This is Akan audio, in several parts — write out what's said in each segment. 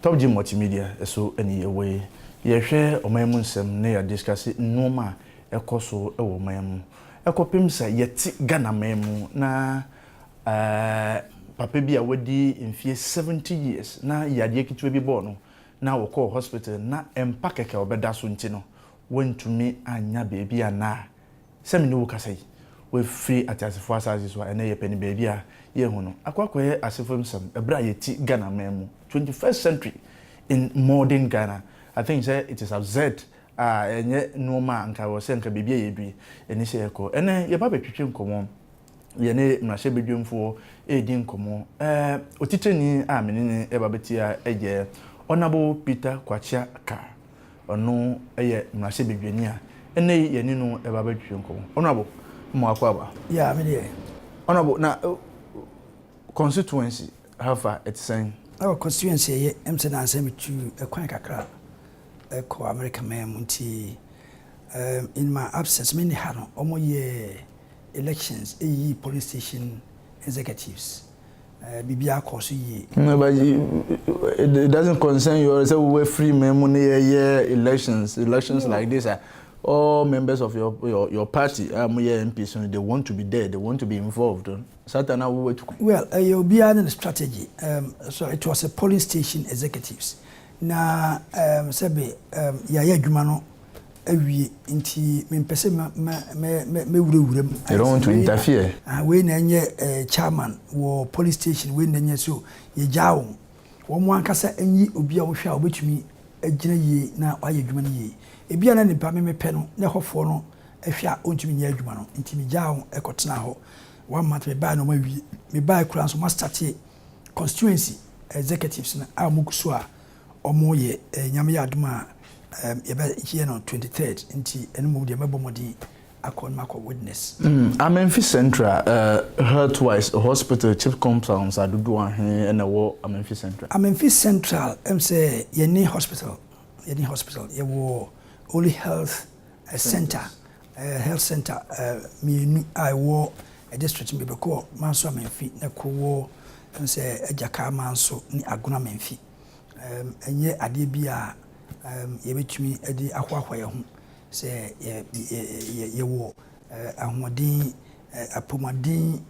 Top G Multimedia so ne yɛwɔ yi. Yɛhwɛ ɔman mu nsɛm na yɛadiskase nnoɔma a ɛkɔ so wɔ ɔman mu. Ɛkɔpem sɛ yɛte Ghana man mu na Ɛɛ, papa bi a wadi mfeɛ seventy years na yadeɛ ketewa bi bɔɔ no na ɔkɔɔ hospital na mpa kɛkɛ a ɔbɛda so nti no, wantumi annya baabi a nnɛ a sɛ me ne wo kasa yi, wafiri ateasefoɔ asaase so a ɛnnɛ yɛpɛ no baabi a yɛnhu no, akɔ akɔyɛ asefo nsɛm ɛberɛ a yɛte Ghana man mu, twenty first century in modern Ghana. I think sɛ it is absurd a ɛnyɛ nnoɔma a anka ɛwɔ sɛ anka baabi a yɛadu yi ɛne sɛ yɛkɔ. Ɛnnɛ yɛba abɛtwetwe nkɔmmɔ yɛne mmarahyɛbadwamfoɔ redi nkɔmmɔ. Otitrani a me ne no reba bɛtia yɛ Ɔnabo Peter Kwakya Kah. Ɔno yɛ mmarahyɛbadwani a ɛnnɛ yi yɛne no reba abɛtwetwe nkɔmmɔ. Ɔnabo, mo akɔ aba? Yeah, me deɛ. Ɔnabo, na constituency ha fa ɛte sɛn? Oh, constituency ɛyɛ. Ɛm sɛ nnansa yi metu kwan kakra kɔ Amerika man mu nti in my absence, menni ha no, wɔyɛɛ. elections yiyii polling station executives, biribiara kɔɔ so yie. No but it doesn't concern you sɛ wowafiri ma mu ne yɛyɛ elections elections like this a all members of your your, your party a moyɛ MP so no they want to be there they want to be involved satan a wowatu kwan. Well ɛyɛ obiara ne ne strategy um, so it was a polling station executives Na um sɛbe um yɛayɛ adwuma no awie, nti mempɛ sɛ mɛ mɛ mɛ mɛ mɛwurawura mu. You don't want to interfere. Ah, wei na ɛnyɛ eh, chairman wɔ police station, wei na ɛnyɛ so yɛgyaa wɔn. Wɔn ankasa nyi obi a wɔhwɛ a wɔbɛtumi agyina yie na wayɛ adwuma no yie. Ebia na nipa me mepɛ no na ɛhɔfoɔ no hwɛ a ɔntumi nyɛ adwuma no, nti megyaa wɔn ɛkɔtenaa hɔ. One month mebae na wɔawie. Mebae koraa nso wɔastate constituency. executives no a wɔgu so a wɔyɛ eh, Nyame yɛ adom a um, yɛbɛyɛ no 23rd nti ɛno mmom deɛ mɛbɔ mmɔden akɔ no makɔ witness. Mm, Amenfi Central uh, eh, Healthwise Hospital Chief Compounds adodoɔ ahe na ɛwɔ Amenfi Central? Amenfi Central ɛm sɛ yɛne hospital yɛne hospital yɛwɔ Holy Health eh, Center Health Centre mmienu a ɛwɔ district mu, yɛbɛkɔ Manso Amanfi na koro wɔ sɛ Agyaka Manso ne Agona Amanfi. Ɛnyɛ adeɛ bi a yɛbɛtumi de ahoahoa yɛn ho sɛ yɛwɔ ahoɔden, apɔmuden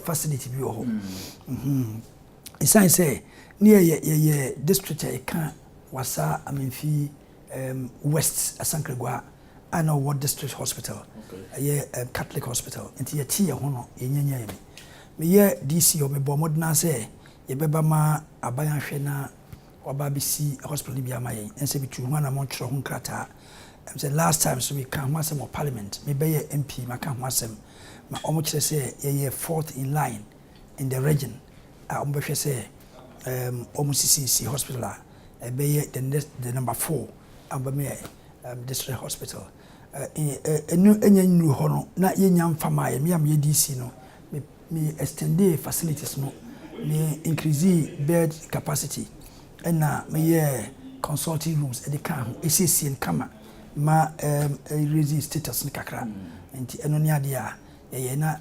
facility bi wɔ hɔ. Ɛsiane sɛ ne yɛyɛ district a ɛka Wasa Amanfi West Asankragua a na ɔwɔ District Hospital, ɛyɛ Catholic Hospital, nti yɛtee yɛn ho no, yɛnya nyaeɛ bi. Meyɛ DC hɔ, mebɔɔ mmɔden ara sɛ yɛbɛba ma aban ahwɛ na wɔaba abɛsi hospital no bi ama yɛn, ɛne sɛ metuu ho anammɔn twerɛɛ ho nkrataa. Ɛm sɛ last time nso mekaa ho asɛm wɔ Parliament, mebɛyɛɛ MP maka ho asɛm ma wɔkyerɛ sɛ yɛyɛ fourth in line. in the region a wɔn bɛhwɛ sɛ um, wɔn sisisi hospital a ɛbɛyɛ the next the number four a wɔn bɛma yɛ um, district hospital ɛnu ɛnyɛ nnuru hɔ no na yɛnya mfama yɛ mmea mmea DC no me me extendee facilities no me increase bed capacity ɛna meyɛ consulting rooms ɛde ka ho ɛsiesie no kama ma um, raise status no kakra nti ɛno ne adeɛ a yɛyɛ na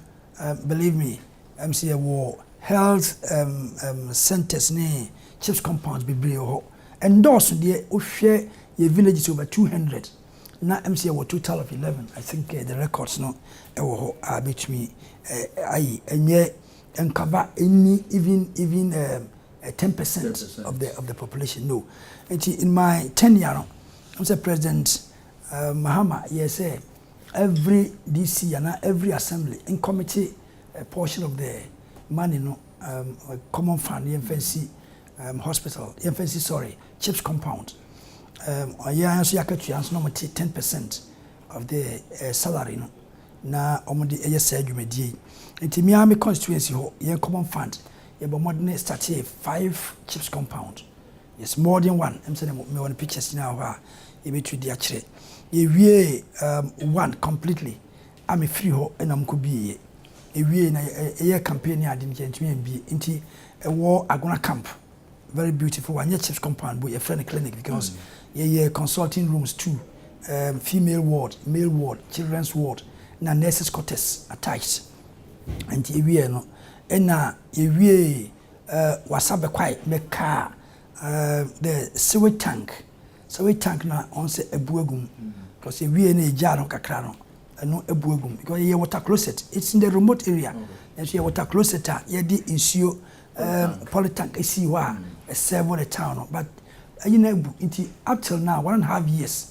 Believe me ɛm sɛ yɛwɔ health ɛm ɛm centres ne chips compounds bebree wɔ hɔ. Ɛndɔɔso deɛ wohwɛ yɛ villages over two hundred na ɛm sɛ yɛwɔ total of eleven I think eh, the records no ɛwɔ hɔ a bɛtumi eh, ayi ɛnyɛ nkaba ɛnni even even ɛm eh, ten percent of the of the population no nti in my tenure no ɛm sɛ president eh, Mahama yɛ sɛ Every DC anaa every assembly nkɔmete a portion of the money no um common fund yɛnfa nsi um hospital yɛnfa nsi sorry chips compound um ɔyɛ ara nso yɛ akatua nso na wɔn te ten percent of the uh, salary no na wɔn de ɛyɛ saa dwumadie yi nti mi ara mi constituency hɔ yɛn common fund yɛbɔ mmɔden startee five chips compound. Yes more than one ɛm sɛ na mewɔ no pictures nyinaa wɔ hɔ a yɛbɛtumi de akyerɛ. Yɛwiee um, one completely a mefiri hɔ na mkɔ bieɛ. Ɛwiee na ɛyɛ campaign ne ade no yɛntumi ambie nti ɛwɔ Agona camp very beautiful wanyɛ chips compound bu yɛfrɛ no clinic because mm. yɛyɛ consulting rooms two um, female ward male ward children's ward na nurses quarters attached nti ɛwieɛ no ɛna yɛwiee Eh, wasa bɛ kwae mɛ kaa eh, the sewage tank, sewage tank na ɔn sɛ abu agu mu, because ewie na egyaa no kakra no, ɛno abu agu mu, because yɛyɛ water closet, it's in the remote area, nanso yɛ water closet a yɛde nsuo eh, poly tank esii hɔ a ɛsɛvo the town no, but ɛyi na abu, nti up till now one and a half years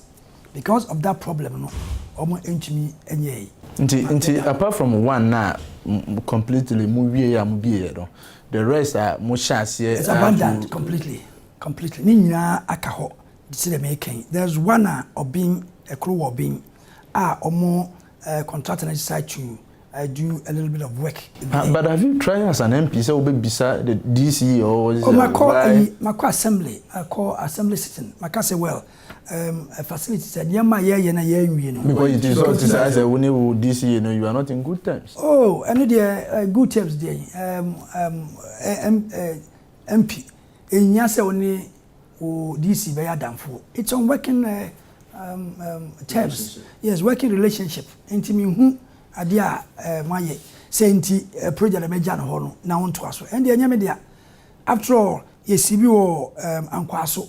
Because of that problem no ɔmo ntumi nyɛɛe. Nti nti apart from one no a completely mo wieɛ a mo bieɛ no the rest a mo hyɛ aseɛ. It's abandoned completely completely ne nyinaa aka hɔ sɛdeɛ meeka yi there is one a ɔben ɛkoro wɔ ɔben a ɔmo uh, contractor no decide to I do a little bit of work. Uh, but have you tried as an MP? So we be sir the DC or oh, my call, I, my call assembly, I call assembly sitting. My call say well, Um, uh, facility sɛ nneɛma a yɛyɛ na yɛanwie no. Mekɔ yi ti sɛ ɔte sɛ sɛ wo ne wo DCA no you are not in good terms. Oh, ɛno deɛ uh, good terms deɛ yi um, um, uh, um, uh, MP ɛnhia sɛ wo ne wo DC bɛyɛ adamfoɔ. It's on working uh, um, um, terms. Yes, working relationship. Nti mehu adeɛ a uh, moayɛ sɛ nti uh, project a mɛgya no hɔ no na wontoa so. Ɛndeɛ ɛnyɛ me dea. After all, yɛsi bi wɔ um, ankwaa so.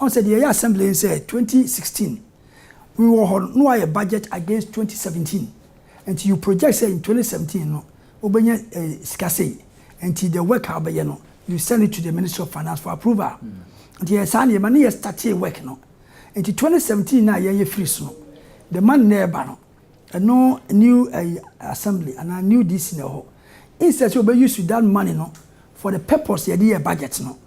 Ɔn sɛ deɛ yɛyɛ assembly yi sɛ twenty sixteen we wɔ hɔ no na wayɛ budget against twenty seventeen nti you project sɛ in twenty seventeen no wobɛnya sika sei nti the work a wobɛyɛ no you send it to the ministry of finance for approval nti yɛyɛ saa nneɛma ne yɛ startee work no nti twenty seventeen no a yɛyɛ firi so no the money na ɛba no ɛno new assembly anaa new DC na ɛhɔ instead sɛ wobɛ use that money no for the purpose yɛde yɛ budget no.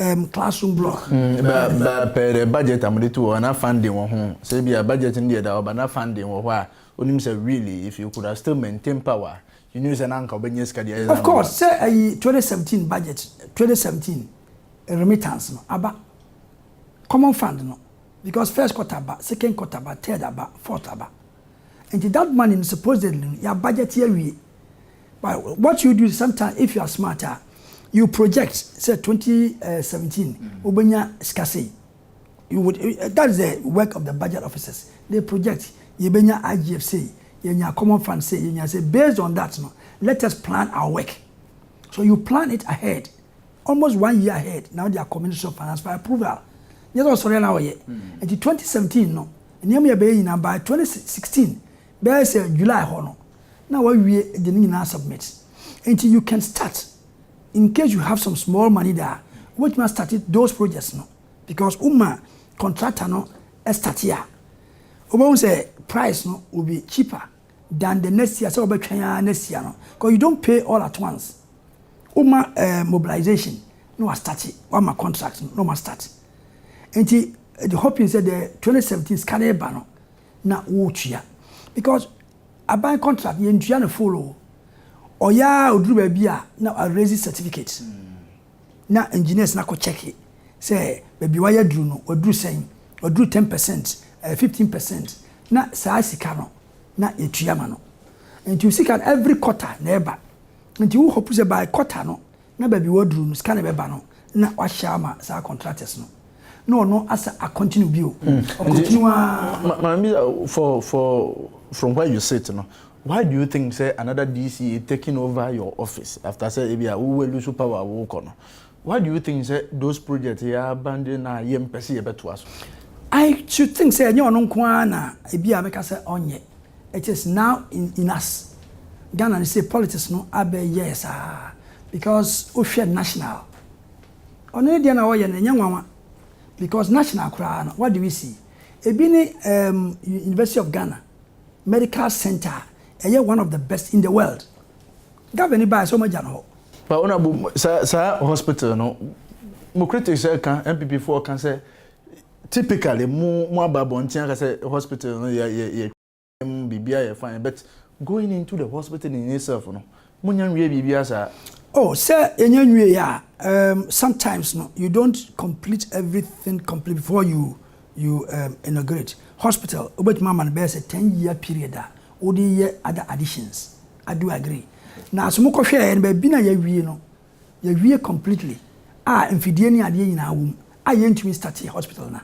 um, classroom block. Mm, ba ba pɛ dɛ budget a wɔde to hɔ na funding wɔ ho. Sɛ ebi a budget no deɛ da hɔ ba na funding wɔ hɔ a, onim sɛ really if you could have still maintain power, you knew sɛ na anka ɔbɛnya sika de ayɛ. Of course, sɛ ayi 2017 budget, 2017 remittance no aba, common fund no, because first quarter ba, second quarter ba, third aba, fourth aba. Nti that money no supposedly no yɛ budget yɛ wie. But what you do is sometimes if you are smart a, you project sɛ 2017 wobɛnya sika sei. You would, that is the work of the budget officers. They project, yɛbɛnya IGF sei, yɛnya common fund sei, yɛnya sei. Based on that no, let us plan our work. So you plan it ahead, almost one year ahead, na wode akɔ Ministry of Finance for approval. Nyɛ sɛ ɔsɔre a na ɔyɛ. Nti 2017 no, nneɛma yɛbɛyɛ nyinaa by 2016 Bɛyɛ sɛ July hɔ no na wawie de ne nyinaa asubmit. Enti you can start incase you have some small money de a, wobɛtumi astate those projects no because woma contractor no state a, wobɛhu sɛ price no will be cheaper than the next year sɛ wobɛtwɛn ara next year no because you don't pay all at once. Woma eh, mobilization na wastate, wama contract no na wɔastate. Enti the hoping sɛ the 2017 sika no reba no, na wotua because aban contract yɛn tua no full o ɔyɛ a oduru baabi a na a raise certificate na engineers na kɔ check sɛ baabi wayɛ aduru no waduru sɛn waduru ten percent ɛɛ eh, fifteen percent na saa sika no na yɛtua ma no nti sika no every quarter na ɛba nti wo hope sɛ by quarter no Na baabi waduru no sika na ɛbɛba no na wahyɛ ama saa contractors no na ɔno asa a continue bio ɔ continue aa. Maame bisa wo for for from where you sit no why do you think sɛ another DC taking over your office after sɛ ebi a wo loose power a wokɔ no why do you think sɛ those projects yi abandon a yɛmpɛ sɛ yɛbɛtoa so. I should think sɛ ɛnyɛ ɔno nko ara na ebi a mɛka sɛ ɔnyɛ. It is now in in us Ghana no sei politics no abɛ yɛɛ saa because wo hwɛ national ɔno ne deɛ na ɔyɛ no ɛnyɛ nwanwa because national koraa no what do we see ebi ne um, University of Ghana medical center ɛyɛ one of the best in the world governor ni baa sɛ ɔmagya no hɔ. Ba ɔna bu saa saa hospital no mo critics ɛka NPP foɔ ka sɛ Typically mo mo aba abɔnten aka sɛ hospital no yɛ yɛ yɛ mu biribiara yɛ fine but going into the hospital in itself no mo nya nwie biribiara saa. Oh sɛ yɛnya nwie a um sometimes no you don't complete everything complete before you you um inaugurate hospital wobɛtumi ama no bɛyɛ sɛ ten year period a wode yɛ other additions I do agree na so mokɔhwɛɛ no baabi na yɛawie no Yɛwie completely a mfidie ne adeɛ nyinaa wɔ mu a yɛntumi start yɛ hospital no a,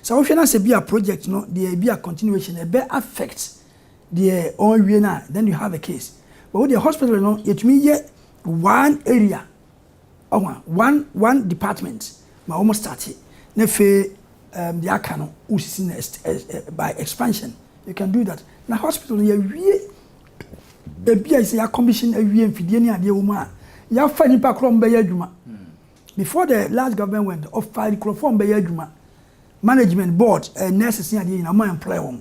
sɛ wohwɛ na sɛ bia project no deɛ ebia continuation ɛbɛ affect deɛ ɔrewie no a then you have a case. But wo deɛ hospital no yɛtumi yɛ one area ɔho a, one one department ma wɔn start na afei um, deɛ aka no wosisi no by expansion you can do that na hospital no yɛwie baabi a ɛsɛ yɛakɔmihyin awie mfidie ne adeɛ wɔ mu a yɛafa nnipa korɔ ɔmo bɛyɛ adwuma before the last government went ɔfa nkorɔfoɔ ɔmo bɛyɛ adwuma management board eh, nurses ne adeɛ nyina ɔmo employ wɔn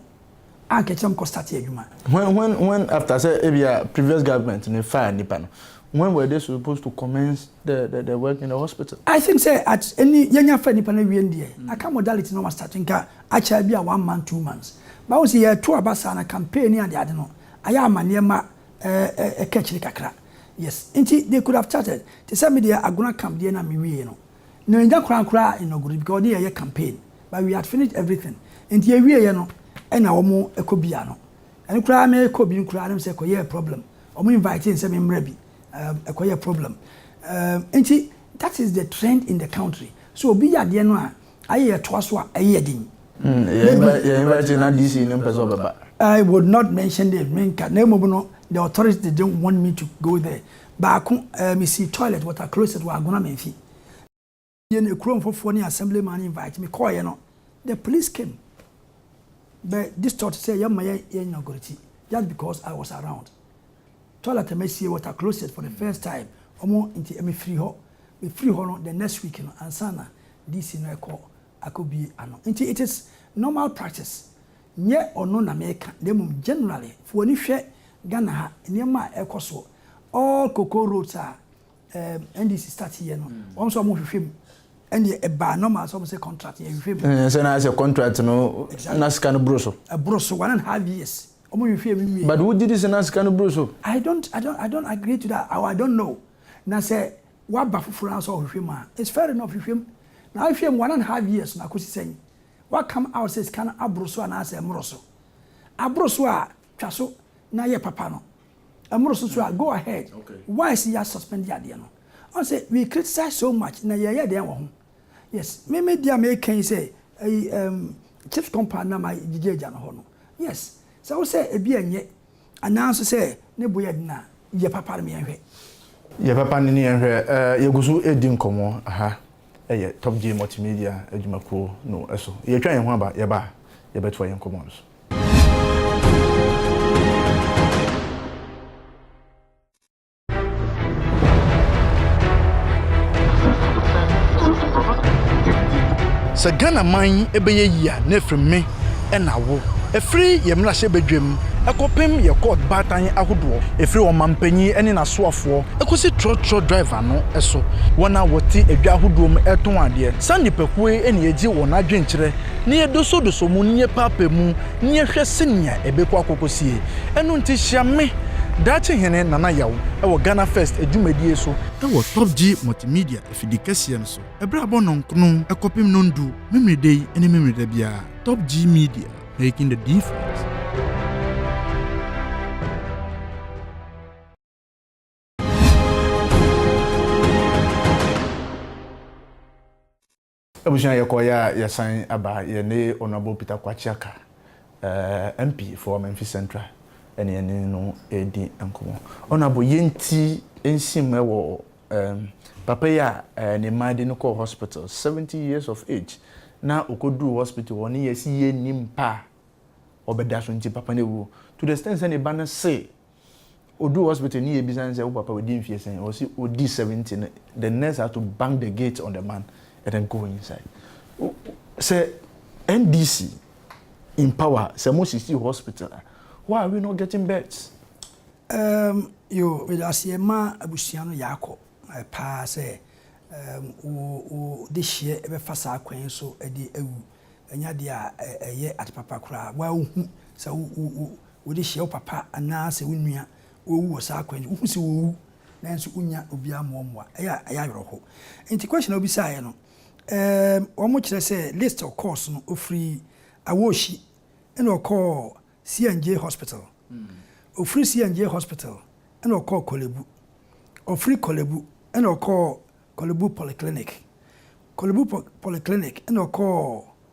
ankɛkyerɛ ɔmo kɔ start adwuma. when when when after sɛ ebia previous government ne faa nnipa no when were they supposed to commence the the, the work in the hospital. I think sɛ at ɛni yɛnya fa nnipa no awie no deɛ aka modality na ɔmo start nka akyɛ ebi a one month, two months. But wo se yɛto aba saa na campaign ne ade ade no ayɛ ama nneɛma ɛkɔ akyiri kakra. Yes, nti they could have charted. Te sɛ me deɛ Agona camp deɛ na me wiee no. Na yɛnnya koraa nkoraa inaugurate because wɔde yɛn yɛ campaign. But we had finished everything. Nti yɛwieɛ no ɛna wɔn ɛkɔ bia no. Ɛno koraa me kɔ bi no koraa na me sɛ ɛkɔyɛɛ problem. Wɔn invitee nsɛ me mmra bi. Um, ɛkɔyɛ problem. Um, nti that is the trend in the country. So obi yɛ adeɛ no a Ayi ɛtoa so a ɛyɛ yɛ den. Hmm, yɛn university na DC no mpɛ sɛ ɔbɛba. I would not mention the menka na mmom no the authorities didn't want me to go there. Baako, eh, mesi toilet water closet wɔ Agona Memphi. Yɛ na ekuro mfofoɔ ne assemblyman invite me kɔɔyɛ no, the police came bɛ distort sɛ yɛmma yɛ yɛ inaugurate just because I was around. Toilet a mɛsie water closet for the first time, ɔmo nti mefiri hɔ. Mefiri hɔ no the next week no ansa na DC no ɛkɔ akɔbue ano nti it is normal practice nyɛ ɔno na meka na mmom generally fa w'ani hwɛ Ghana ha nneɛma a ɛkɔ soɔ all cocoa roads a ɛɛm NDC start yɛ no wɔn nso wɔn hwehwɛ mu ɛnneɛ ɛbaa normal sɛ wɔn sɛ contract yɛ hwehwɛ mu. Ɛɛ sɛ na ayɛ sɛ contract no exactly na sika no boro so. Ɛboro so one and half years wɔn hwehwɛ mu nwie. But wogye di sɛ na sika no boro so. I don't I don't I don't agree to that or I don't know na sɛ. Waba fofor ara sɛ ɔhwehwɛ mu a, it's fair enough, hwehwɛ mu. Na ahwehwɛ mu one and half years no, akosi sɛn? Wa come out sɛ sika no aboro so anaasɛ ɛmmoro so? Aboro so a, twa so na yɛ papa no. Ɛmmoro so nso a, go ahead. Why sɛ yɛ suspend adeɛ no? Ɔn sɛ we criticize so much, na yɛyɛ dɛn wɔ ho? Yes, me me deɛ a meka yi sɛ, ɛyi, um, Chips compound na ma gyigye agya no hɔ no. Yes, sɛ wo sɛ ebi a ɛnyɛ. Anaa nso sɛ ne bo yɛ den a, yɛ papa no ma yɛnhwɛ. Yɛ papa no ne yɛnhwɛ. Yɛgu so redi nkɔmmɔ. Ha yɛ Top J Multimedia adwumakuo no so. Yɛretwa yɛn ho aba. Yɛba a, yɛbɛtoa yɛn nkɔmmɔ no so. Sɛ Ghana man yi bɛyɛ yie a, na ɛfiri me na awo. Ɛfiri yɛn mmarahyɛ badwam kɔpem yɛn kɔɔt baatan ahodoɔ, ɛfiri ɔmanpanin ne n'asoafoɔ kɔsi trɔtrɔ driver no so, wɔn a wɔte adwa ahodoɔ mu retɔn adeɛ. Saa nnipakuo yi na yɛgye wɔn adwenkyerɛ, na yɛdosɔdosɔ mu, na yɛpɛapɛ mu. ne yɛhwɛ senea ɛbɛkɔ akɔkɔsie. Ɛno nti hyia me, Daakye Hene Nana Yaw, wɔ Ghana First dwumadie so. Wɔ Top G Multimedia afidi kɛseɛ no so, ɛberɛ a bɔ nnɔnkono kɔpem nnɔndu, Memeneda yi ne Memeneda biara. Top G Media, making the difference. Abusua yɛkɔ yɛ a yɛsan aba yɛne Honourable Peter Kwakye Aka ɛɛ MP for Ɔmanfi Central ɛne yɛne no redi nkɔmɔ. Honourable yɛn ti nhyem ɛwɔ ɛɛm papa yi a ɛɛ ne mmaa de no kɔɔ hospital seventy years of age na ɔkɔ duru hospital hɔ ne yɛsi yɛn nim mpa a ɔbɛda so nti papa no awu to the extent sɛ ne ba no see Ɔduu hospital no yɛbisa no sɛ wo papa wadi mfeɛ sɛn? Ɔwɔ se ɔdi 70 no the nurse had to bang the gate on the man and then go inside. Sɛ NDC in power sɛ mo sisi hospital a why are we not getting beds? Erm yoo medaseɛ ma abusua no yaakɔ paa sɛ erm wo wo dehyeɛ bɛfa saa kwan yi so de awu ɛnyɛ adeɛ a ɛyɛ ade papa koraa woaa wohu sɛ wo wo Wode hyɛ wo papa anaasɛ wo nua owu wɔ saa kwan yi so, wohu sɛ owu nanso wonnya obiara mma ɔmmoa a, ɛyɛ a ɛyɛ awerɛhow. Enti question a wobisaeɛ no, ɛɛm, wɔkyerɛ sɛ list a ɔkɔɔ so no, ɔfiri Awohyi ɛna ɔkɔɔ CNJ Hospital, ɔfiri CNJ Hospital ɛna ɔkɔɔ Korlebu, ɔfiri Korlebu ɛna ɔkɔɔ Korlebu Polyclinic, Korlebu Polyclinic ɛna ɔkɔɔ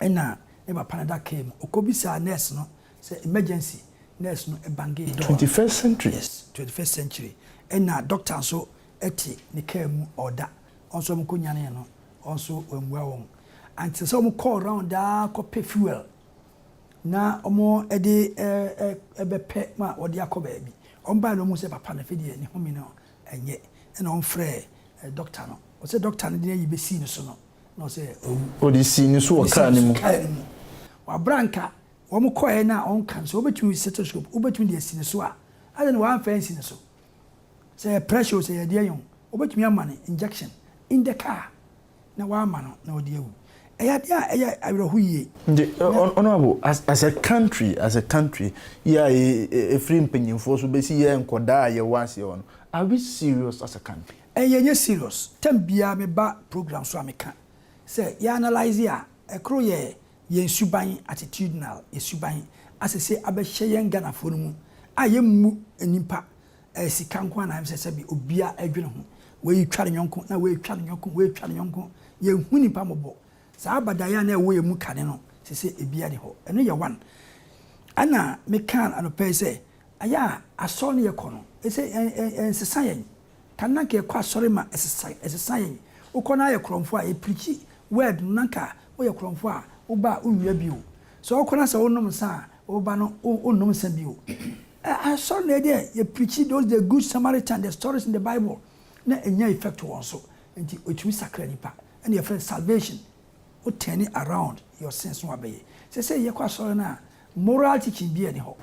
Nna ne papa no da kaar mu, okobisaa nurse no sɛ emergency, nurse no bangee door no. Twenty first century. Yes, twenty first century. Nna doctor so tse ne kaar mu ɔɔda, ɔno so wɔkonyanee no, ɔno so oemmbua hɔn. Antsɛ sɛ wɔkɔɔ round ara kɔpɛ fuel na wɔdze bɛpɛ ma wɔdze akɔ beebi. Wɔbae no wohun sɛ papa no afei deɛ ne home no nnyɛ, nna wɔfrɛɛ doctor no, ɔsɛ doctor no dze n'eyi besii no so no, Na ɔsɛ owu. Ɔde sii ne so wɔ kaa no mu. Kaa no mu. Wabra nka wɔn kɔɛ no a ɔnka no sɛ wobɛtumi stethoscope wobɛtumi de asi ne so a adɛn na wamfa ansi ne so sɛ yɛ pressure o sɛ yɛ deɛn o wobɛtumi ama no injection in the car na wama no na ɔde awu ɛyɛ adeɛ a ɛyɛ awerɛho yie. Nti honourable as as a country as a country yɛ a ɛfiri mpanyinfoɔ so bɛsi yɛ nkɔdaa a yɛwɔ aseɛ hɔ no are we serious as a country? Ɛyɛ nyɛ serious term biaa me ba program so a me ka sɛ yɛ analyse a ɛkoro yɛ yɛn suban attitudinal yɛ suban asese abɛhyɛ yɛn Ghanafoɔ no mu a yɛ mmu nnipa ɛyɛ sika nko ara na ɛmsɛ sɛ bi obia ɛdwene ho wei twa ne nyɔnko na wei twa ne nyɔnko wei twa ne nyɔnko yɛ nhu nnipa mmɔbɔ saa abadaeɛ a na ɛwɔ yɛn mu kane no sese ebia ni hɔ ɛno yɛ one ɛna me ka anɔpa yi sɛ ɛyɛ a asɔre no yɛ kɔ no ɛsɛ yɛn ɛnsesa yɛn. Kan na nka yɛkɔ asɔre ma ɛsesa ɛsesa yɛn. Wokɔ na ayɛ korɔmfo a, yɛ preachi word no na nka woyɛ korɔmfo a woba a wonwia bio. Sɛ wokɔ na sɛ wonom nsa a woba no wo wonnom nsa bio. Ɛ asɔre na ɛdeɛ yɛ preachi those the good Samaritan the stories in the bible na ɛnya effect wɔ wɔn so nti ɛtumi sakra nipa ɛna yɛfrɛ no salvation wo turni around your sins na wabɛyɛ. Sɛsɛi yɛkɔ asɔre no a moral teaching biaa nni hɔ.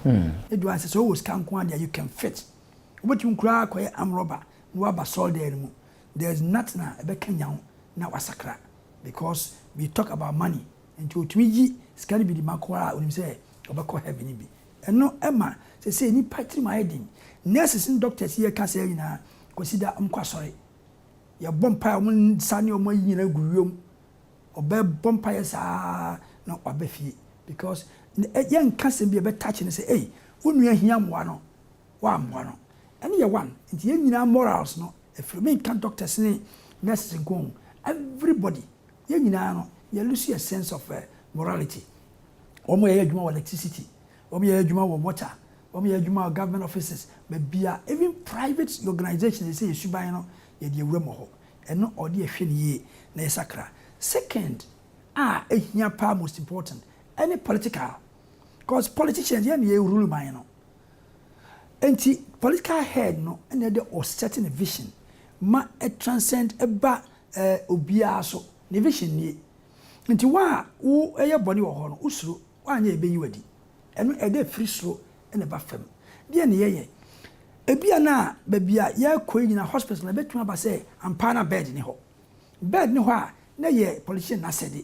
Ɛduru a sɛ sɛ wowɔ sika nko ara deɛ you can fit. Wobɛtumi koraa akɔyɛ arm robber na woaba sɔre dan no mu, there is nothing a ɛbɛkanyan wo na woasakra because we talk about money nti ɔtumi yi sika no bi de ma koraa a ɔnim sɛ ɔbɛkɔ heaven no bi. Ɛno ɛma sɛsei nnipa tirim ayɛ den, nurses ne doctors yi a ɛka saa nyinaa Kwasida wɔn kɔ asɔre, yɛbɔ mpaeɛ a wɔn nsa ne wɔn ayi nyinaa gu wiem, ɔbɛbɔ mpaeɛ saa na waba fie because yɛnka asɛm bi a ɛbɛ touch no sɛ ei wo nua hia mmoa no wammoa no ɛno yɛ one nti yɛn nyinaa morals no afiri me nka doctors ne nurses nko o everybody yɛn nyinaa no yɛ lose yɛ sense of morality wɔn yɛyɛ adwuma wɔ electricity wɔn yɛyɛ adwuma wɔ water wɔn yɛyɛ adwuma wɔ government offices bɛbia even private organization yɛ sɛ yɛ suban no yɛ deɛ wura mɔ hɔ ɛno ɔde ɛhwɛ ne yie na yɛ sakra second a ɛhia paa most important ɛne political cause politicians yɛn na yɛ rule man no. Enti political head no na ɛde ɔ set ne vision ma ɛ transcend ba ɛ obiara so. Ne vision nie. Enti wo a wo yɛ bɔne wɔ hɔ no wo suro, woanyɛ a yɛbɛyi wo adi. Ɛno ɛde firi soro na ɛba fam. Deɛ na yɛyɛ. Ebia na baabi a yɛrekɔ yi nyinaa hospital na ɛbɛtumi aba sɛ ampa ara na bed nni hɔ. Bird ne hɔ a na ɛyɛ politician no asɛde.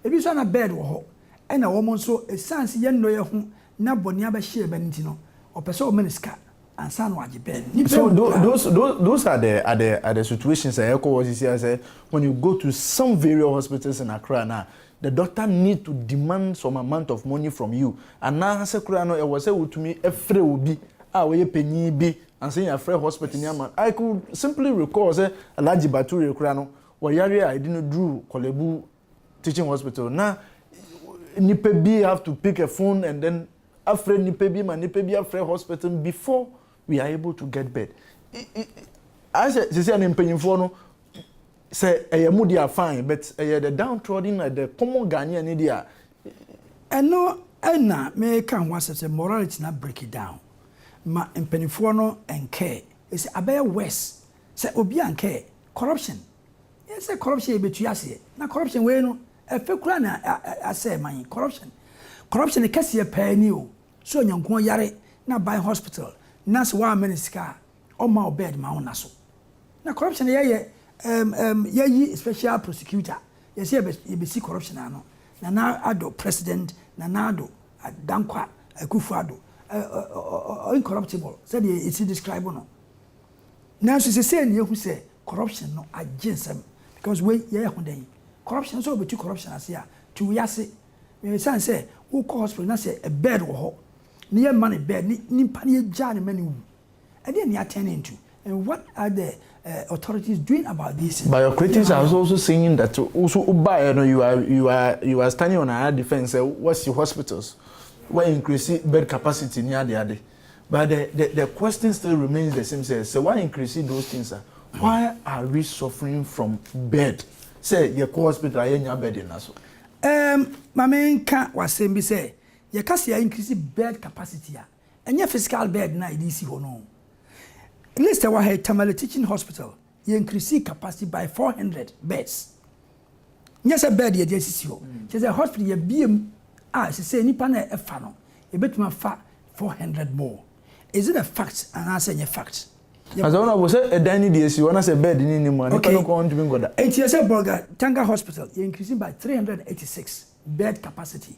Ebi nso a na Bird wɔ hɔ ɛna wɔn nso esiane sɛ yɛn nnɔyɛ ho na bɔne abɛhyɛ yɛn ba no nti no ɔpɛ sɛ ɔma no sika ansa na wagye Bird no. Nnipa So awu koraa. those those those are the are the are the situations a ɛkɔ hɔ sisi a sɛ when you go to some various hospitals in Accra no a the doctor need to demand some amount of money from you anaasɛ koraa no ɛwɔ sɛ wotumi frɛ obi a ɔyɛ panyin bi Ansa yɛn afrɛ hospital ni ama no, I could simply recall sɛ Alhaji Bature koraa no, ɔyare a ɛde no duruu Korlebu Teaching Hospital, na nnipa bi have to pick a phone and then afrɛ nnipa bi ma nnipa bi afrɛ hospital no before we are able to get bed. Ayɛ sɛ sisi a no mpanyinfoɔ no Sɛ ɛyɛ mo deɛ a fine but ɛyɛ the down trodden na the common Ghanaian no deɛ a. Ɛno na meka ho asɛm sɛ morality no abreaki down ma mpaninfoɔ no nkɛɛ ɛsɛ abɛyɛ worse sɛ obi ankɛɛ corruption yɛ sɛ corruption yɛ bɛtua aseɛ na corruption wei no ɛfɛ kura na asɛɛ man corruption corruption kɛseɛ paa ni o sɛ onyankuo yare na ban hospital na sɛ woammɛ no sika a ɔma wo bed ma wo na so. Na corruption no yɛyɛ um um yɛyi special prosecutor yɛsɛ yɛbɛ yɛbɛsi corruption ano Nana Addo president Nana Addo Dankwa Akuffo Addo uh incorruptible sɛdeɛ yɛsi describe no nanso sesei na yɛhu sɛ corruption no agye nsɛm because wei yɛyɛ ho dɛn corruption sɛ wɔbɛtu corruption ase a tu wo yase ɛsiane sɛ wokɔ hospital na sɛ bed wɔ hɔ na yɛmma no bed ne nipa no yɛgyaa no ma no wu Ɛdeɛn ne atɛn ntu? And what are the authorities doing about this? But your critics are also saying that wo so wobaeɛ no you are you are you are standing on another defence sɛ woasi hospitals, wo increase bed capacity ne ade ade but the the the question still remains the same sɛ sɛ wo increase those things a why are we suffering from bed sɛ yɛkɔ hospital a yɛnnya bed nna so? Ɛɛm ma menka w'asɛm bi sɛ yɛka sɛ yɛ increase bed capacity a Ɛnyɛ physical bed no a yɛde resi hɔ no oo. List a ɛwɔ ha yi, Tamale Teaching Hospital, yɛ increasee capacity by four hundred beds. Nyɛ sɛ bed yɛde asisi hɔ. Kyerɛ sɛ hospital yɛabue mu a sesei nnipa no a ɛfa no, yɛbɛtumi afa four hundred more. Is it a fact anaasɛ ɛnyɛ fact? Na sɛ Honourable, sɛ ɛdan no bi asi hɔ na sɛ bed no nni mu a, nnipa no kɔ hɔ ntumi nkɔda. Enti yɛsɛ Bolgatanga Hospital, yɛ increasee by three hundred and eighty six bed capacity.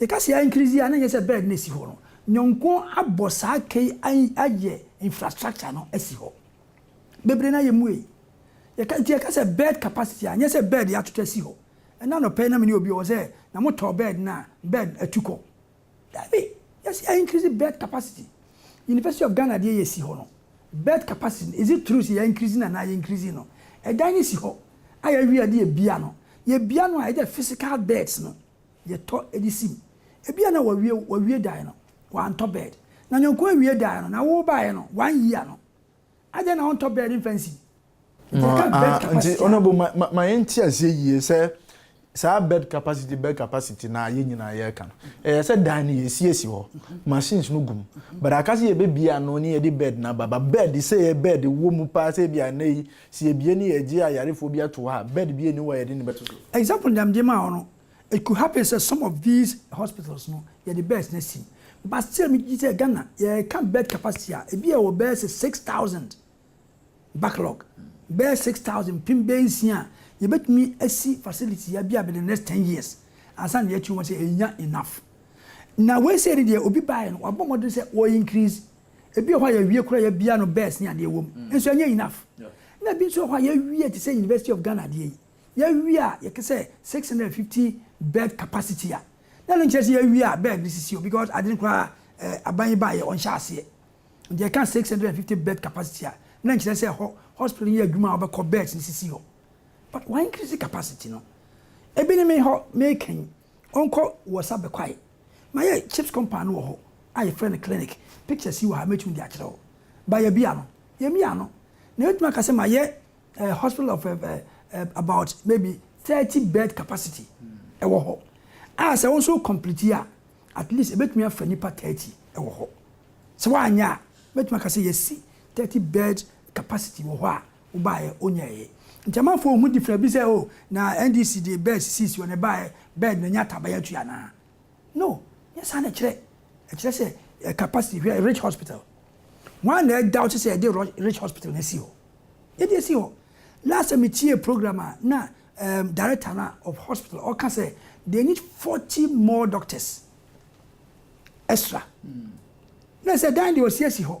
Yɛka sɛ increase a na nyɛ sɛ bed na esi hɔ no. Nyɔnko abɔ saa ka yi ayɛ infrastructure no asi hɔ. Bebree no ayɛ muei. Yɛka nti yɛka sɛ bed capacity a nyɛ sɛ bed yɛatoto asi hɔ. Ɛna anɔpa yi na me ne obi ɔwɔ sɛ na mo tɔɔ bed no a bed no atu kɔ. Dabi, yɛse yɛ increase bed capacity. University of Ghana deɛ yɛsi hɔ no bed capacity no is it true sɛ yɛ increase no anaa yɛ increase no? Ɛdan no si hɔ a yɛawie a yɛde yɛbia no. Yɛbia no a yɛde physical beds no yɛtɔ de si mu. Ebia na wɔawie wɔawie dan no, wɔantɔ bɛɛd. Na nyɔnko awie dan no, na wo baeɛ no, woanyi ano. Adɛn na wontɔ bɛɛd mfa nsi mu? Nti yɛka bɛɛd capacity a. Nti honourable ma ma ma yɛnte aseɛ yie sɛ saa bɛɛd capacity bɛɛd capacity no a yɛn nyinaa yɛreka no, ɛyɛ sɛ dan no yɛsi asi hɔ, machines no gu mu, but aka sɛ yɛbɛbue ano ne yɛde bɛɛd no aba, but bɛɛd sɛ ɛyɛ bɛɛd wɔ mu paa sɛ ebia nnɛ yi Sɛ yɛbue ne yɛgye ayarefoɔ bi ato hɔ a, bed bi nni hɔ a yɛde no bɛto so? Example na mede maa wo no, it could happen sɛ some of these hospitals no, yɛde beds no asi mu. But still megye di sɛ Ghana, yɛka bed capacity a, ebi yɛwɔ bɛyɛ sɛ six thousand backlog, bɛyɛ six thousand, mpem bɛyɛ nsia a yɛbɛtumi asi facility yi abia bɛde next ten years ansa na yɛatu wɔn sɛ yɛnnya enough. Na wei sei ne deɛ, obi baeɛ no, wabɔ mmɔden sɛ ɔincrease Ebi wɔ hɔ a yɛwie koraa yɛbia no best ne adeɛ wɔ mu nso ɛnyɛ enough. Na ebi nso wɔ hɔ a yɛwie te sɛ University of Ghana adeɛ yi yɛwie a yɛka sɛ 650 bed capacity a na ɛno nkyerɛ sɛ yɛwie a bed no sisi o because ade no koraa eh, aban yi baeɛ ɔnhyɛ aseɛ nti yɛka 650 bed capacity a na nkyerɛ sɛ ɛhɔ hospital no yɛ adwuma a wobɛkɔ beds no sisi hɔ but why increase capacity no ebi ne me hɔ meka yi. Ɔnkɔ wɔ sa bɛ kwae. Mayɛ chips compound no wɔ hɔ a yɛfrɛ no clinic. Pictures yi wɔ ha a mɛtumi de akyerɛ wo. Ba yɛabia no. Yɛmmia no. Na yɛbɛtumi aka sɛ mayɛ eh, hospital of eh, eh, eh, about maybe thirty bed capacity ɛwɔ hɔ. A sɛ wo nso wo complete a, at least ɛbɛtumi afa nnipa thirty ɛwɔ hɔ. Sɛ woanyɛ a, mɛtumi aka sɛ yɛasi thirty bed capacity wɔ hɔ a Wobaeɛ wonyɛeɛ. Nti amanfoɔ nhu different bi sɛ oh na NDC de bɛs sisi hɔ na ɛbaeɛ bɛɛ na nya taban atua anaa? No, nyɛ saa na ɛkyerɛ. Ɛkyerɛ sɛ yɛ capacity, hwɛ Rich Hospital. Hwan na ɛdaute sɛ yɛde Rich Hospital no asi hɔ? Yɛde asi hɔ. Last time metiee program a na um director no of hospital ɔka sɛ they need 40 more doctors extra. Na ɛsɛ dan deɛ wɔasi asi hɔ.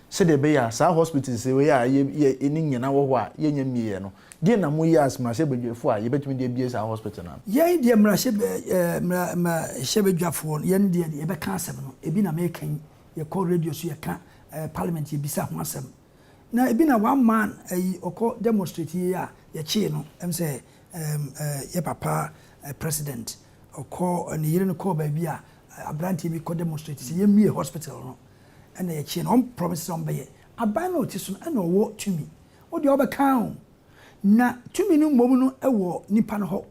Sɛdeɛ ɛbɛyɛ a saa hospitals wei a yɛ yɛ ɛni nyɛ na wɔ hɔ a yɛnya mmieɛ no, deɛn na mo yɛ as mmarahyɛbadwafoɔ a yɛbɛtumi de abie saa hospital no ano? Yɛn deɛ mmarahyɛba ɛɛ mmara mmarahyɛbadwafoɔ no yɛn deɛ yɛbɛka asɛm no, ɛbi na meka yi, yɛkɔ radio so yɛka, ɛɛ parliament yɛbisa ho asɛm. Na ɛbi na one man ɛyi ɔkɔ demonstrate yi a yɛkyee no, ɛm sɛ ɛɛm ɛɛ yɛ papa ɛɛ president ɔkɔ ne yere no kɔɔ baabi a abranteɛ bi kɔ demonstrate sɛ yɛmmie hospital no. ɛna yɛkyeɛ no ɔmo promise sɛ ɔmo bɛyɛ aban no a ɔte so no ɛna ɔwɔ tumi wodeɛ ɔbɛka oo na tumi no mmom no ɛwɔ nipa no hɔ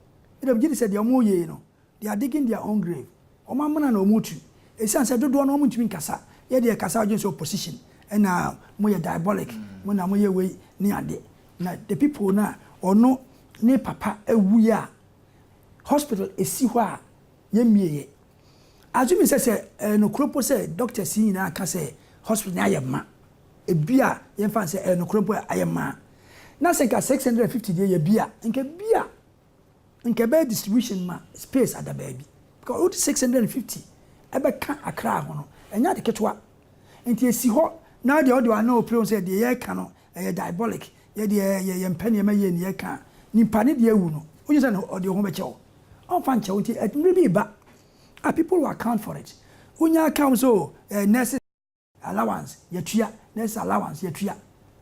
ɛna megye di sɛ deɛ ɔmo reyɛ yi no they are digging their own grave ɔmo amena na ɔmo retu ɛsiane sɛ dodoɔ no ɔmo ntumi nkasa yɛ deɛ ɛkasa ɔdwene sɛ opposition ɛna moyɛ diabolic mo na moyɛ wei ne ade na the people no a ɔno ne papa awuiɛ a hospital ɛsi hɔ a yɛmmieɛ. Adze me sɛ sɛ ɛyɛ nokorɛ mpo sɛ doctors yi nyinaa ka sɛ hospital no ayɛ ma, ebi a yɛmfa no sɛ ɛyɛ nokorɛ mpo a ayɛ ma a, na sɛ nka six hundred and fifty deɛ yɛ bi a, nka bi a nka ɛbɛyɛ distribution ma space ada baabi. Because wode six hundred and fifty ɛbɛka Accra ho no, ɛnyɛ ade ketewa. Nti esi hɔ na deɛ ɔde w'ano repere wo sɛ deɛ yɛreka no Ɛyɛ diabolic, yɛ deɛ yɛ yɛ mpɛ nneɛma yie neɛ ɛka nipa ne deɛ awu no wogye sɛ no ɔde ho bɛkyɛ wo ɔmfa nkyɛ wo nti ɛmere bi reba a people will account for it wonya aka wo sɛ oh eh nurse allowance yɛtua nurse allowance yɛtua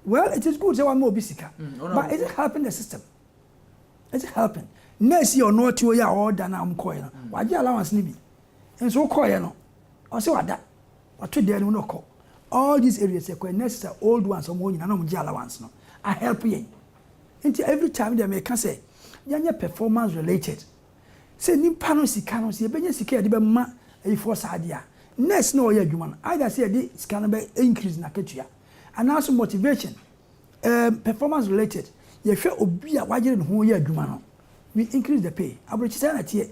well it is good sɛ wama obi sika but is it helping the system is it helping nurse yɛ ɔno ɔte hɔ yi a ɔda no a ɔmkɔɛ no wagye allowance no bi nso wokɔɛ no ɔsɛ wada Ɔtwe dan no mu na ɔkɔ all these areas yɛkɔ yɛ nurses a old ones ɔmo hɔ nyinaa na ɔmo gye allowance no a help yɛn nti every time me deɛ meka sɛ yɛnyɛ performance related sɛ nipa no sika no sɛ yɛbɛnya sika yɛde bɛma ayifoɔ saa deɛ a nurse na ɔyɛ adwuma no either sɛ yɛde sika no bɛ increase n'akatua anaa so motivation um, performance related yɛhwɛ obi a wayere ne ho yɛ adwuma no we increase the pay aburokyesɛ na teɛ.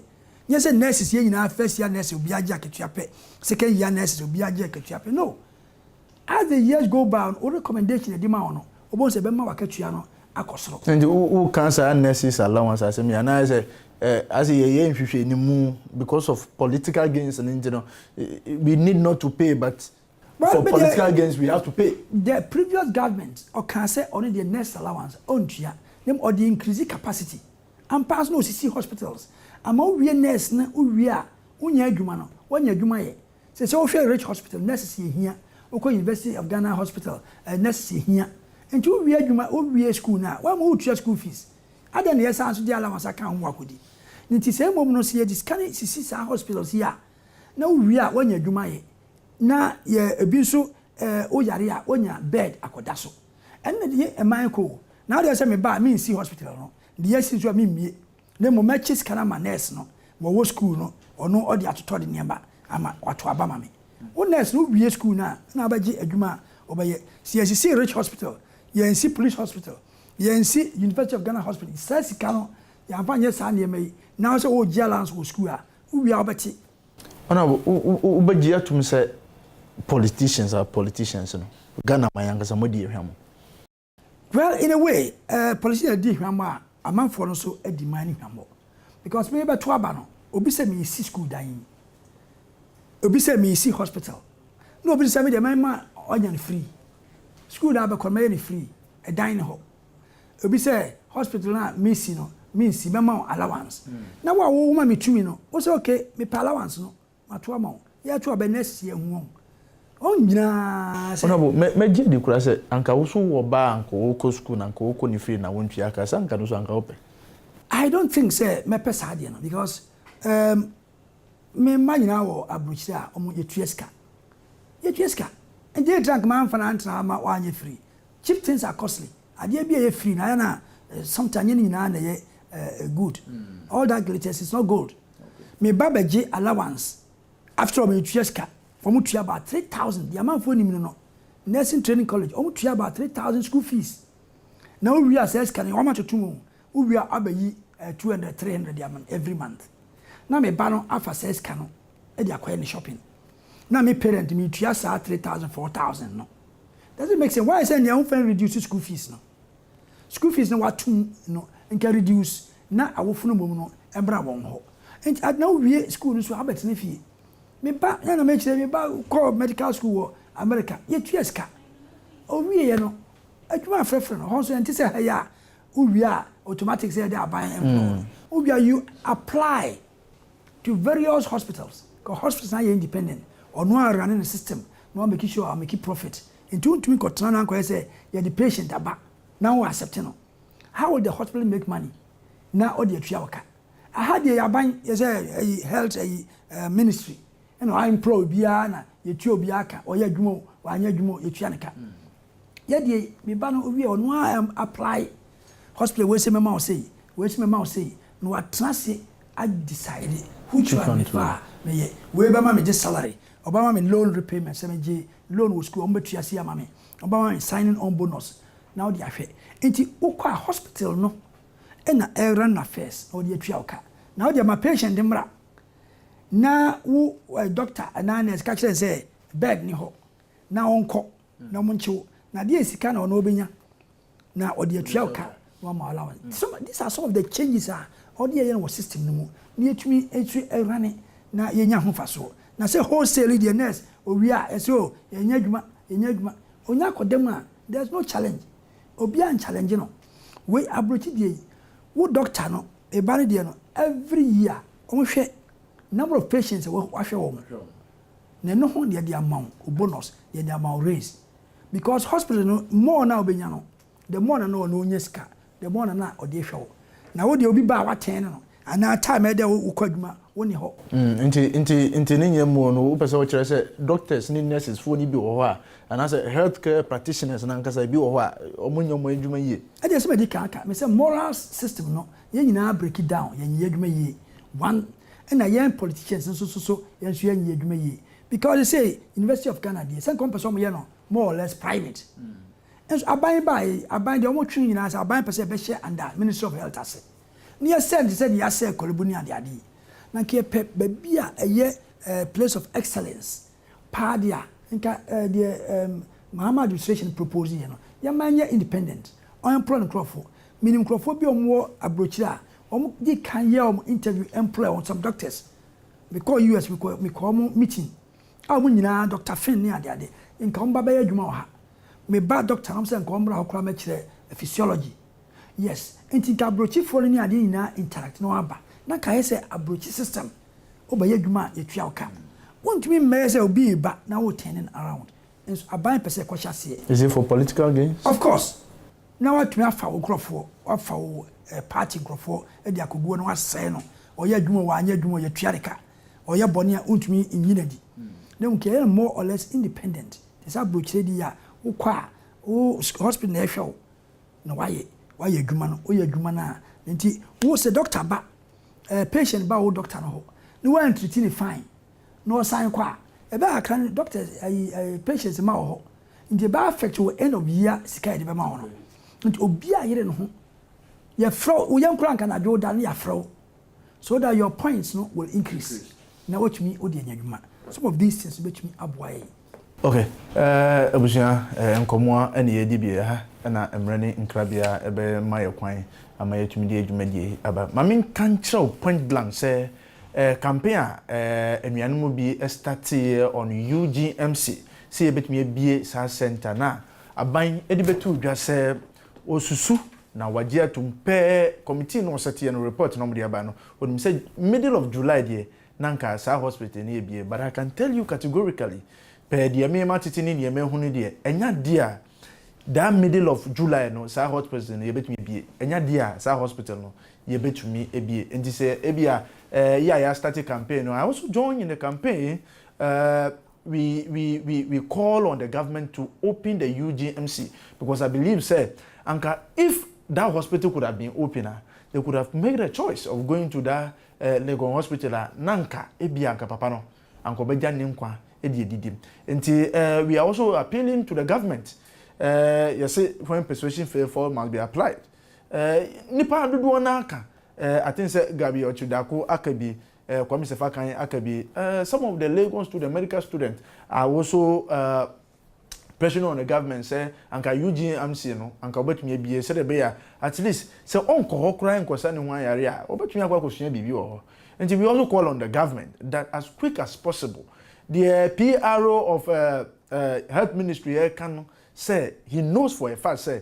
Nyɛ sɛ nurses yɛ nyinaa first year nurses obiara gye akatua pɛ, second year nurses obiara gye akatua pɛ no. As the years go by no wo recommendation a yɛde ma wo no wobɛhu sɛ ɛbɛma w'akatua no akɔ soro. Nti wo ka saa nurses allowance asɛm yi anaa sɛ as yɛ yɛ nhwehwɛnimu because of political gains no nti no we need not to pay but for political gains we have to pay. The previous government ɔkaa sɛ ɔno deɛ nurses allowance ɔntua na mmom ɔde increase capacity Ampa ara so na osisi hospitals ama wowie nurse na wowie a wonnya adwuma no woanya adwuma yɛ. Sɛ sɛ wohwɛ Rich hospital nurses yɛ hia, wokɔ University of Ghana hospital ɛ nurses yɛ hia. Nti wowie adwuma wowie school no a why ma woretua school fees? Adɛn na yɛsan so de allowance aka ho akodi? Ne nti sɛ mmom no sɛ yɛde sika no sisi saa hospitals yi a na wowie a woanya adwuma yɛ na yɛ ebi nso ɛ woyare a wonya bed akɔda so. Ɛnna deɛ ɛmae kɔ o, na adeɛ sɛ meba a mensi hospital no, deɛ asi nso a memmue, na mmom mɛkye sika no ama nurse no ma ɔwɔ sukuu no, ɔno ɔde atotɔ de nneɛma ama wato aba ma me. Wo nurse no wowie sukuu no a, na abɛgye adwuma a wobɛyɛ. Sɛ yɛsisi Rich Hospital, yɛansi Police Hospital, yɛansi University of Ghana Hospital, saa sika no yɛamfa nyɛ saa nneɛma yi, na wo sɛ woregye allowance wɔ sukuu a, wowie a wobɛte. Ɔno a wo bɛgye atum sɛ politicians are politicians no, Ghana man ankasa moadi ahwa mo. Well in a way eh politicians di hwa mo a amanfoɔ no nso adi man no hwa mo because me bɛto aba no obi sɛ me si school dan yi, obi sɛ me si hospital na obi nso sɛ me deɛ mɛma ɔnya no free, school no a bɛkɔ no mɛyɛ no free, ɛdan no hɔ. Obi sɛ hospital no a mesi no mensi mɛma wo allowance. Na wo a wo ma me tumi no wo sɛ okay mepɛ allowance no mato ama wo. Yɛto aba next year hu wɔn. Wɔn nyinaa sɛ. Honourable mɛ gye di koraa sɛ anka wo so wɔ ba a anka ɔɔkɔ sukuu na anka ɔɔkɔ ne fie na wo ntua ka sɛ anka no so anka wo pɛ. I don't think sɛ mɛpɛ saa deɛ no because ehm me mma nyinaa wɔ aburokyire a wɔn yɛtua sika. Yɛtua sika. Nti etra anka mamfa no antena hɔ ama wanyɛ free. Cheap things are costly, adeɛ bi a ɛyɛ free no ayɛ no a sometime nyɛ ne nyinaa na ɛyɛ good, all that glitters is not gold. Me ba bɛgye allowance, after all metua sika, wɔn tua about three thousand, deɛ amanfoɔ nim no no, nursing training college, wɔn tua about three thousand school fees, na wowie a saa sika no wɔn atoto mu, wowie a abɛyi two hundred, three hundred de ama no every month, na me ba no afa saa sika no de akɔyɛ ne shopping, na me parent metua saa three thousand, four thousand no. Doesn't make sense why sɛ nea wo fɛn reduce school fees no school fees no watum no nka reduce na awofo no mmom no ɛmbra wɔn hɔ nti na wo wie school no so abɛ tena fie me ba na na me kyerɛ me ba kɔ medical school wɔ America yɛ tua sika owie yɛ no adwuma afrɛfrɛ no hɔ nso ɛnte sɛ ha yɛ a wo wie a automatic sɛ yɛde aban ɛmplɔ wo wie a you apply to various hospitals ka hospitals no ayɛ independent ɔno a runne ne system na wa make sure wa make profit nti wo ntumi nkɔ tena na nkɔ yɛ sɛ yɛ de patient aba na wo accept no how will the hospital make money na ɔde atua wo ka aha deɛ yɛ aban yɛ sɛ ayi health ayi uh, ministry ɛna wa employ biara na yɛtua obiara ka ɔyɛ adwuma o wanyɛ adwuma o yɛtua ne ka. Yɛ deɛ yi, me ba no owie a ɔno ara apply hospital wei sɛ mɛma wo sei, wei sɛ mɛma wo sei, na watena ase a decide which one me pɛ a mɛyɛ. Wei bɛma me gye salary, ɔbɛma me loan repayment sɛ me gye loan wɔ sukuu a wɔbɛtua sei ama me, ɔbɛma me signing on bonus na wode ahwɛ. Nti wo kɔ a hospital no na ɛ run affairs na wɔde atua wo ka. Na wo deɛ ma patient mmra na wo doctor anaa nurse ka kyerɛ no sɛ bed ni hɔ na ɔnkɔ. na wɔnkye wo na deɛ sika na ɔno ɔbɛnya na ɔde atua wo ka na wama wo allowance mm. some, these are some of the changes a ɔde yɛyɛ no wɔ system no mu na yɛtumi nso awurane na yɛnya ho fasoɔ na sɛ wholesale deɛ nurse owie a ɛsɛ o yɛnya adwuma yɛnya adwuma ɔnya akɔda mu a there is no challenge obiara nchallenge no wei aburokyi deɛ yi wo doctor no ɛba no deɛ no every year wɔhwɛ number of patients a wahwɛ wɔn na ɛno ho deɛ de ama wo bonus deɛ de ama wo raise because hospital no more na wobɛnya no the more na na ɔno ɔnya sika the more na na ɔde hwɛ wo na wo deɛ obi ba a watɛn no no anaa time ɛdɛ wo wokɔ adwuma wo ne hɔ. Nti nti nti ne nyɛ more no wopɛ sɛ wokyerɛ sɛ doctors ne nurses foɔ no bi wɔ hɔ a anaa sɛ health care practitioners no ankasa ebi wɔ hɔ a ɔmo nyɛ ɔmo adwuma yie. Ɛdeɛ sɛ madi kan aka me sɛ moral system no yɛn nyinaa break it down yɛn nyɛ adwuma yie one Ɛna yɛn politicians nso so so yɛn nso yɛnyɛ adwuma yie because they say University of Ghana deɛ sɛ nka wɔn pɛ sɛ wɔn yɛ no more or less private nso aban baa yi aban deɛ wɔn twe nyinaa sɛ aban pɛ sɛ ɛbɛhyɛ under Ministry of Health ase ne yɛ sɛ nti sɛ deɛ yɛasɛ kɔlɛbu ne adeade yi na nka yɛpɛ baabi a ɛyɛ eh, place of excellence paa de a, nka eh, deɛ eh, Mahama administration propose yɛ no, yɛmma ɛnyɛ independent, ɔnemploy nkorɔfo. Menim nkorɔfoɔ bi a wɔn wɔ aburokyire a, wɔn di kan yɛ wɔn interview employ wɔn, some doctors. Me kɔɔ US, me kɔɔ, me kɔɔ wɔn meeting a wɔn nyinaa, Doctor Finn ne ade ade, nka wɔn ba bɛyɛ adwuma wɔ ha. Me ba doctor na wɔn sɛ nka wɔn mmra hɔ koraa mɛkyerɛ physiology. Yes, nti nka aburokyifoɔ no ne adeɛ nyinaa interact na wɔn aba, na nka ayɛ sɛ aburokyi system. Wobɛyɛ adwuma a yɛtua wo ka. Wontumi mmɛyɛ sɛ obi reba na wo turning around nso aban pɛ sɛ ɛkɔ hyɛ aseɛ. Is it for political gains? Of course! Na watumi afa wo nkorɔfoɔ, wafa wo party nkorɔfoɔ de akɔgu hɔ na wasɛe no. Ɔyɛ adwuma o, wanyɛ adwuma o, yɛtua ne ka. Ɔyɛ bɔne a wontumi nyi no adi. Na ɛmu nti ɛyɛ no more or less independent. Te sɛ abrokyire deɛ a, wokɔ a wo hospital na ɛhwɛ wo. Na wayɛ wayɛ adwuma no woyɛ adwuma no a nti wo sɛ doctor ba eh, patient ba wo doctor no hɔ ne woantriti ne fine na ɔsan kɔ a ɛbɛyɛ kakra no doctor ayi eh, patients mma wɔ hɔ nti ɛbɛ affect wɔ end of year sika yɛde bɛma wo no nti obi a yere ne ho yɛfrɛ wo yɛnkora nka nadwo da no yɛafrɛ wo so that your points no will increase na watumi odi anya adwuma some of these things bɛtumi aboa yɛn. Ok abusua nkɔmoa ɛna yɛdi bie ha ɛna mmerɛ ne nkrabea ɛbɛma yɛ kwan ama yɛatumi de dwumadie aba ma me nka nkyerɛ wo point blank sɛ campaign a anuanom bi starteɛ on UGMC sɛ yɛbɛtumi abie saa center no a aban de bɛtoo dwa sɛ Osusu na wagye atom pɛɛ committee no ɔsɛteɛ no report na wɔde aba no onim sɛ middle of July deɛ na nka saa hospital no abue but I can tell you categorically pɛɛ deɛ me ma tete ne deɛ mahu no deɛ ɛnya deɛ a that middle of July no saa hospital no yɛbɛtumi abue ɛnya deɛ a saa hospital no yɛbɛtumi abue nti sɛ ebia eh, yɛ a yɛastarte campaign no I also join in the campaign eh, we we we we call on the government to open the UGMC because I believe sɛ anka if that hospital could have been open a they could have made a choice of going to that uh, Legon hospital a na anka ebi anka papa no anka ɔbɛgya ne nkwa de adidi nti uh, we are also appealing to the government uh, yɛse when persuasion fail for must be applied uh, nipa dodoɔ no aka uh, I think sɛ Gabi Ɔkyidako aka bi Eh, Kwame Sefa kan aka bi, eh, some of the Legon student, medical student are also eh, pressure on the government sɛ anka Eugene Amsie no anka wɔbɛtumi abie sɛdeɛ ɛbɛyɛ a at least sɛ ɔnkɔ hɔ koraa nkɔsa ne ho ayare a wɔbɛtumi akɔ akɔsua biribi wɔ hɔ nti we also call on the government that as quick as possible deɛ PRO of uh, uh, health ministry ɛka no sɛ he knows for a fact sɛ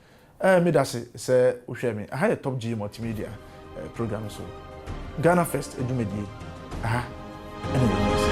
Ɛɛ me dase sɛ wo hwɛ me. Aha yɛ Top G Multimedia program so Ghana First dwumadie. Aha ɛne Nyame Nsa.